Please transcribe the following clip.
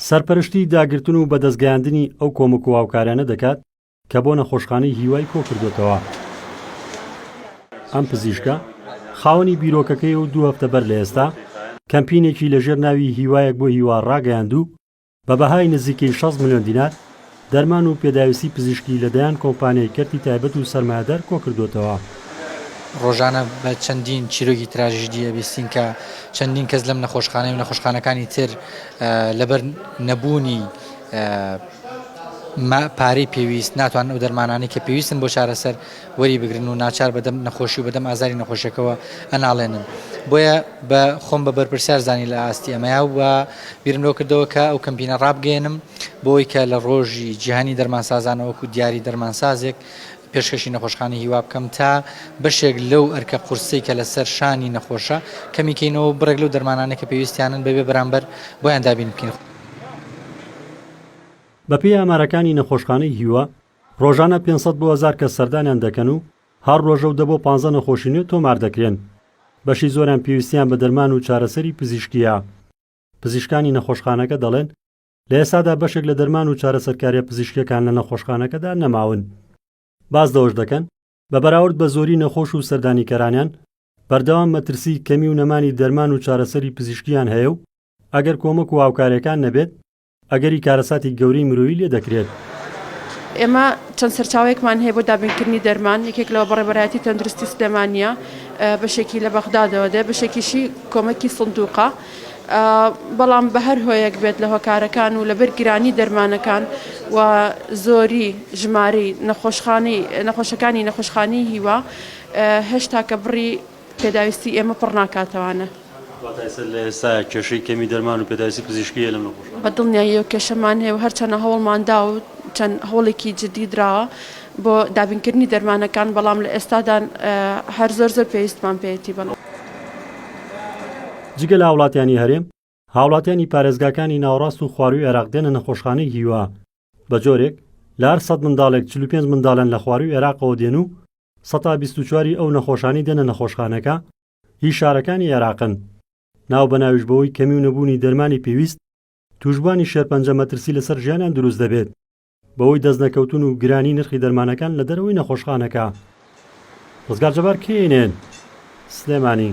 سەرپەرشتی داگرتن و بەدەستگەیاندنی ئەو کۆمەک و هاوکاریانە دەکات کە بۆ نەخۆشخانەی هیوای کۆکردۆتەوە. ئەم پزیشکە خاوەنی بیرۆکەکەی و دوو هەفتە بەر لە ئێستا کەمپینێکی لەژێر ناوی هیوایەک بۆ هیوا ڕاگەیاند و بە بەهای نزیکەی شەست ملیۆن دینار دەرمان و پێداویستی پزیشکی لە دەیان کۆمپانیای کەرتی تایبەت و سەرمایەدار کۆکردۆتەوە. ڕۆژانە بە چەندین چیرۆکی تراژیدی ئەبیستین کە چەندین کەس لەم نەخۆشخانەی و نەخۆشخانەکانی تر لەبەر نەبوونی پارەی پێویست ناتوانن ئەو دەرمانانەی کە پێویستن بۆ چارەسەر وەری بگرن و ناچار بە دەم نەخۆشی و بە دەم ئازاری نەخۆشیەکەوە ئەناڵێنن بۆیە بە خۆم بە بەرپرسیار زانی لە ئاستی ئەمەیا و بیرم لەوە کردەوە کە ئەو کەمپینە ڕابگەێنم بۆی کە لە ڕۆژی جیهانی دەرمانسازانەوەکو دیاری دەرمانسازێک پێشکەشی نەخۆشخانە هیوا بکەم تا بەشێک لەو ئەرکە قورسی کە لەسەر شانی نەخۆشە کەمیکەینەوە بڕێک لەو دەرمانانە کە پێویستیانن بەبێ بەرامبەر بۆیان دابین بکەین. بەپێی ئامارەکانی نەخۆشخانەی هیوا، ڕۆژانە پێنج سەد بۆ هەزار کەس سەردانیان دەکەن و هەر ڕۆژەو دە بۆ پانزە نەخۆشی نوێ تۆمار دەکرێن. بەشی زۆریان پێویستیان بە دەرمان و چارەسەری پزیشکییە. پزیشکانی نەخۆشخانەکە دەڵێن، لە ئێستادا بەشێک لە دەرمان و چارەسەرکارییە پزیشکییەکان لە نەخۆشخانەکەدا نەماون. باس لەوەش دەکەن، بە بەراورد بە زۆری نەخۆش و سەردانیکەرانیان، بەردەوام مەترسیی کەمی و نەمانی دەرمان و چارەسەری پزیشکییان هەیە و ئەگەر کۆمەک و هاوکارییەکان نەبێت، ئەگەری کارەساتی گەورەی مرۆیی لێ دەکرێت. ئێمە چەند سەرچاوەیەکمان هەیە بۆ دابینکردنی دەرمان یەکێک لەوە بەڕێبەرایەتی تەندروستی سلێمانە بەشێکی لە بەغدادەوە دێ بەشێکیشی کۆمەکی سندوقە بەڵام بە هەر هۆیەک بێت لە هۆکارەکان و لەبەر گرانی دەرمانەکان و زۆری ژماری نەخۆشخانی نەخۆشەکانی نەخۆشخانی هیوا هێشتا کە بڕی پێداویستی ئێمە پڕ ناکاتەوانە. واتە ئێستا لە ئێستا کێشەی کەمی دەرمان و پێداویستی پزیشکی هەیە لەم نەخۆشانە؟ بە دڵنیایی ئەو کێشەمان هەیە و هەرچەندە هەوڵمان دا و چەند هەوڵێکی جدی دراوە بۆ دابینکردنی دەرمانەکان، بەڵام لە ئێستادا هەر زۆر زۆر پێویستمان پێیەتی. جگە لە هاوڵاتیانی هەرێم، هاوڵاتیانی پارێزگاکانی ناوەڕاست و خوارووی عێراق دێنە نەخۆشخانەی هیوا بە جۆرێک، لە هەر سەد منداڵێک چل و پێنج مندالن لە خوارووی عێراقەوە دێن و سەتا بیست و چواری ئەو نەخۆشانەی دێنە نەخۆشخانەکە هی شارەکانی عێراقن، ناو بە ناویش بەهۆی کەمی و نەبوونی دەرمانی پێویست تووشبووانی شێرپەنجە مەترسی لەسەر ژیانیان دروست دەبێت. بەهۆی دەستنەکەوتن و گرانی نرخی دەرمانەکان لە دەرەوەی نەخۆشخانەکە ڕزگار جەبار کەینێن سلێمانی.